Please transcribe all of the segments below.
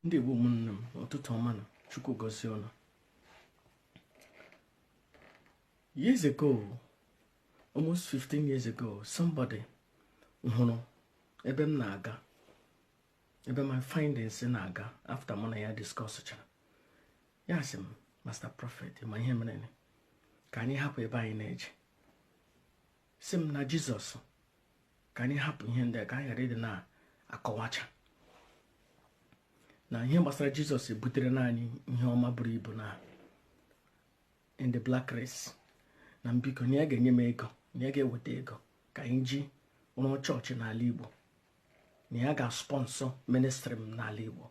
ndị Igbo ụmụnne m ụtụtụ ọma nụ Chukwu gozie unu years ago almost 15 years ago somebody hụrụ ebe m na-aga ebe my findings na-aga after mụ na ya discuss chara ya sị m master prophet ma ihe mere ka anyị hapụ ebe anyị na-eje sị m na jizọs ka anyị hapụ ihe ndị ka anyị ghara ịdị na-akọwacha na ihe gbasara jizọs ebuterena anyị ihe ọma buru ibu na in the black race na m biko na ya ga-enye m ego na ya ga-eweta ego ka anyị ji rụọ chọọchị n'ala igbo na ya ga-sponsọ ministri m n'ala igbo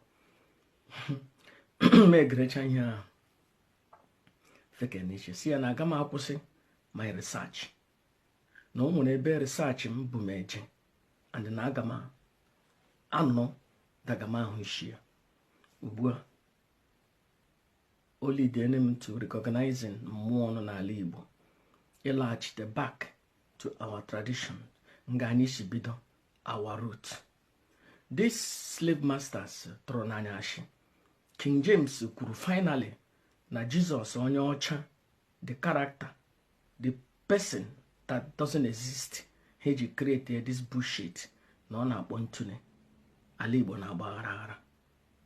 m egerecha ihe ahụ feke n'isi sị ya na aga m akwụsị my research na o nwere ebe research m bu m eje and na aga m anọ daga m ahụ isi ya ugbu a o lidene m to recognizing mmụọ ọnụ n'ala Igbo ịlaghachite back to our tradition nga anyị si bido our root these slave masters tụrụna anyị ashị king james kwuru finally na jizọs onye ọcha the character the person that doesn't exist ha eji create this bullshit na ọ na-akpọ ntu n'ala igbo na-agba aghara aghara